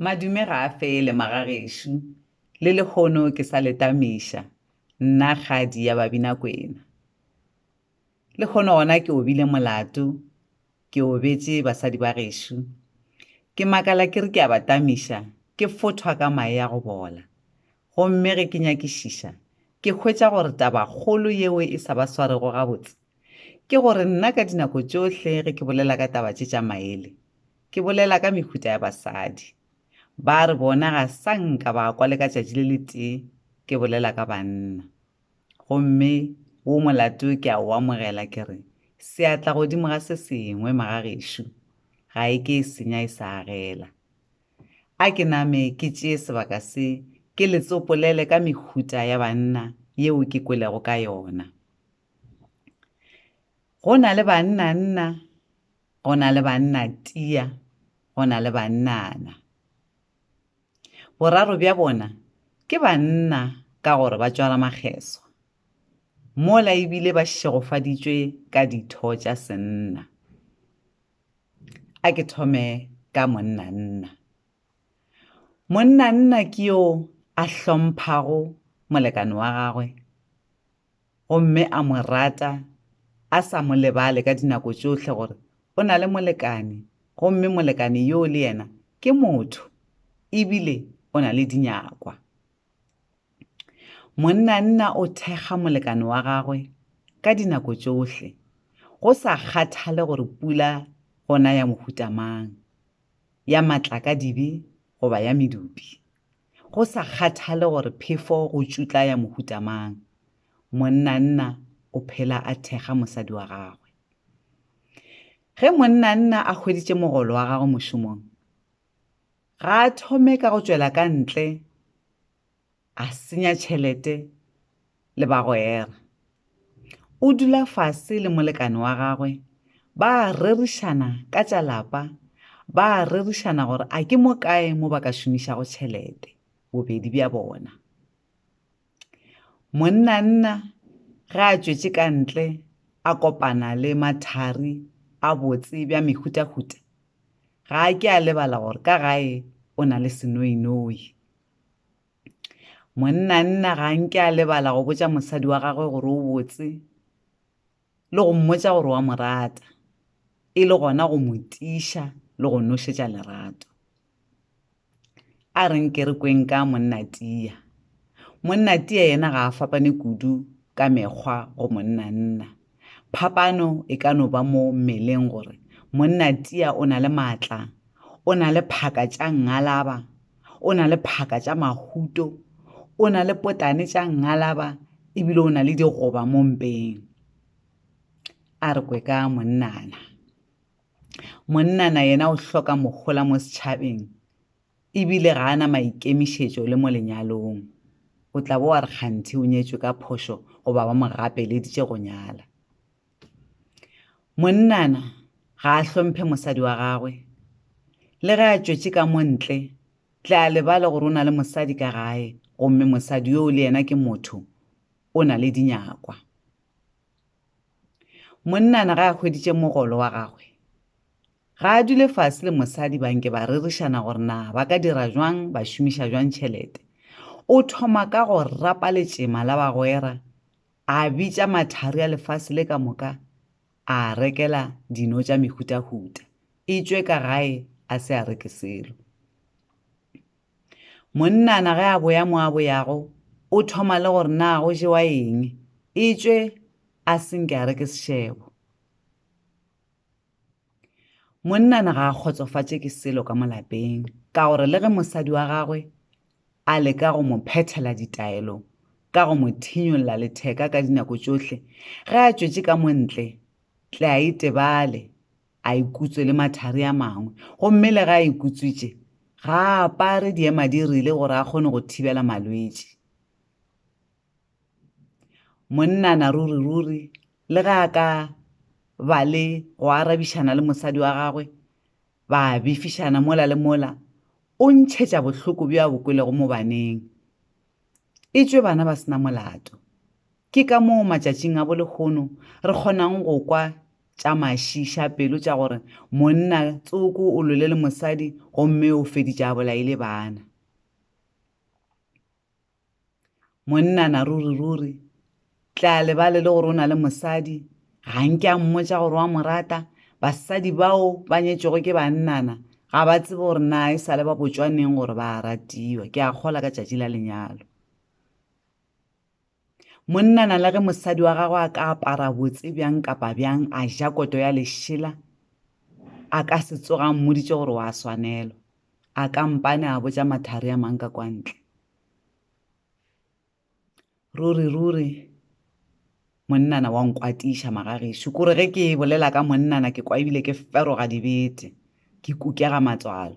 Madume ga a fele, magagešo, le lehono ke sa le tamiša, nna kgadi ya Babinakwena. Lehono gona ke obile molato, ke obetše basadi ba gešo. Ke makala ke re ke a ba tamiša, ke fothwa ka mae a go bola. Gomme ge ke nyakišiša, ke hwetša gore tabakgolo yeo e sa ba swarego gabotse, Ke gore nna ka dinako tšohle ge ke bolela ka taba tše tša maele, ke bolela ka mehuta ya basadi. Ba re bona ga sa nka ba kwa le ka tšatši le le tee ke bolela ka banna. Gomme wo molato ke a o amogela ke re, Seatla godimo ga se sengwe, magagešo, ga e ke e senya e sa agela. A ke name ke tšee sebaka se ke le tsopolele ka mehuta ya banna yeo ke kwelego ka yona. Go na le bannanna, go na le bannatia, go na le bannana. Boraro bja bona ke banna ka gore ba tšwala makgeswa, mola ebile ba šegofaditšwe ka ditho tša senna. A ke thome ka monnanna. Monnanna ke yo a hlomphago molekane wa gagwe, gomme a mo rata a sa mo lebale ka dinako tšohle gore o na le molekane gomme molekane yoo le yena ke motho e bile o na le dinyakwa. Monnanna o thekga molekane wa gagwe ka dinako tšohle go sa kgathale gore pula gona ya mohuta mang, ya matlakadibe goba ya medupi. Go sa kgathale gore phefo go tšutla ya mohuta mang, monnanna o phela a thekga mosadi wa gagwe. Ge monnanna a hweditše mogolo wa gagwe mošomong, ga a thome ka go tšwela ka ntle a senya tšhelete le bagwera. O dula fase le molekane wa gagwe, ba a rerišana ka tša lapa, ba a rerišana gore a ke mo kae mo ba ka šomišago tšhelete, bobedi bja bona. Monnanna ge a tšwetše ka ntle a kopana le mathari a botse bja mehutahuta, ga a ke a lebala gore ka gae o na le senoinoi. Monnanna ga nke a lebala go botša mosadi wa gagwe gore o botse le go mmotša gore wa mo rata, e le gona go mo tiša le go nošetša lerato. A re nke re kweng ka monna Tia. Monna Tia yena ga a fapane kudu ka mekgwa go monnanna. Phapano e ka no ba mo mmeleng gore monna tia o na le maatla, o na le phaka tša ngalaba, o na le phaka tša mahuto, o na le potane tša ngalaba ebile o na le digoba mo mpeng. A re kwe ka monnana. Monnana yena o hloka mohola mo setšhabeng. e bile ga a na maikemišetšo le mo lenyalong o tla bo wa re kganthe o nyetšwe ka phošo goba ba mo gapeleditše go nyala monnana ga a hlomphe mosadi wa gagwe le ge a tšwetše ka mo ntle tle a lebale gore o na le mosadi ka gae gomme mosadi yoo le yena ke motho o na le dinyakwa monnana ga a hweditše mogolo wa gagwe Ga a dule fase le mosadi ba nke ba rerišana gore na ba ka dira jwang ba šomiša jwang tšhelete. O thoma ka go rapa letšema la bagwera, a bitša mathari a lefase le ka moka, a rekela dino tša mehutahuta, e tšwe ka gae a se a reke selo. Monnana ge a boya mo a boyago, o thoma le gore na go jewa eng, e tšwe a se nke a reke sešebo. Monnana ga a kgotsofatše ke selo ka molapeng ka gore le ge mosadi wa gagwe a leka go mo phethela ditaelo ka go mo thinyolla letheka ka dinako tšohle ge a tšwetše ka montle tle a itebale a ikutswe le mathari a mangwe gomme le ge a ikutswitše ga a apare diema di rile gore a kgone go thibela malwetši Monnana ruri-ruri le ge a ka ba le go arabišana le mosadi wa gagwe, ba befišana mola le mola, o ntšhetša bohloko bjo a bo kwelego mo baneng. E tšwe bana ba se na molato. Ke ka moo matšatšing a bolehono re kgonang go kwa tša mašiiša pelo tša gore monna tsoko o lole le mosadi gomme o feditše a bolaile bana. monnana ruri ruri tla lebale le gore o na le mosadi ga nke a mmotsa gore wa mo rata basadi bao ba nyetšego ke bannana ga ba tsebe gore na e sa le ba botswaneng gore ba ratiwa ke a kgola ka tšatši la lenyalo monnana le ge mosadi wa gagwe a ka apara botse bjang kapa bjang a ja koto ya lešela a ka se tsoga mmoditse gore wa swanelwa a kampane a botsa mathari a mang ka kwantle ruri-ruri monnana wa nkwatiša magagešo kore ge ke bolela ka monnana ke kwa ebile ke feroga dibete ke kukega matswalo